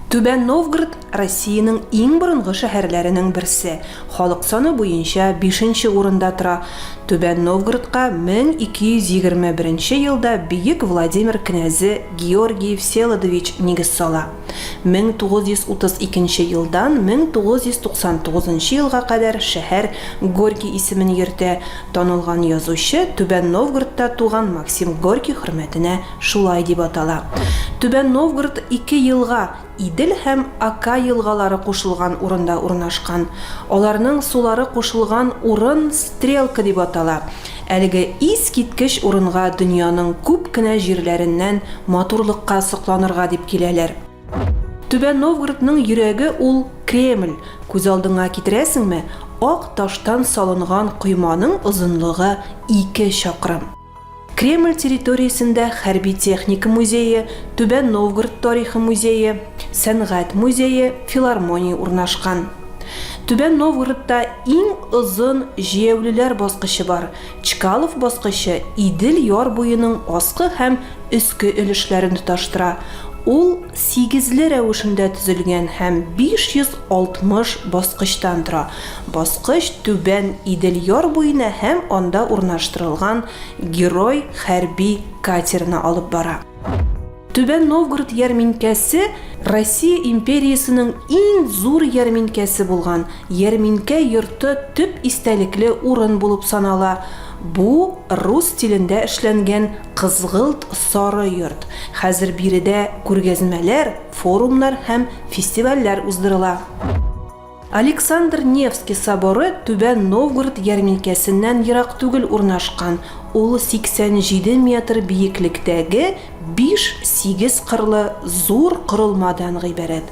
Түбән Новгород Россиянең иң борынгы шәһәрләренең берсе. Халык саны буенча 5 урында тора. Түбән Новгородка 1221 елда Бөек Владимир кенәзе Георгий Всеволодович нигез сала. 1932 нче елдан 1999 нчы елга кадәр шәһәр Горький исемен йөртә, танылган язучы Түбән Новгородта туган Максим Горький хөрмәтенә шулай дип атала. Түбән Новгород ике елга, Идел һәм Ока елгалары кушылган урында урнашкан. Аларның сулары кушылган урын Стрелка дип атала. Әлеге искиткеч урынга дөньяның күп кенә җирләреннән матурлыкка сокланырга дип киләләр. Түбән Новгородның йөрәге ул Кремль, күз алдыңа китерәсеңме, ак таштан салынган койманың озынлыгы ике чакрым. Кремль территориясендә хәрби техника музее, Түбән Новгород тарихы музее, сәнгать музее, филармония урнашкан. Түбән Новгородта иң озын җәяүлеләр баскычы бар, Чкалов баскычы Идел яр буеның аскы һәм өске өлешләрен тоташтыра, ул, Сигезле рәвешендә төзелгән һәм 560 баскычтан тора. Баскыч Түбән Идел яр буена һәм анда урнаштырылган Герой хәрби катерына алып бара. Түбән Новгород ярминкәсе Россия империясенең иң зур ярминкәсе булган Ярминкә йорты төп истәлекле урын булып санала, бу рус стилендә эшләнгән Кызгылт сары йорт. Хәзер биредә күргәзмәләр, форумнар һәм фестивальләр уздырыла. Александр Невский соборы Түбән Новгород ярминкәсеннән ерак түгел урнашкан, ул 87 метр биеклектәге биш-сигез кырлы зур корылмадан гыйбарәт.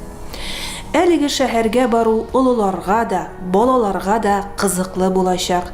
Әлеге шәһәргә бару олыларга да, балаларга да кызыклы булачак,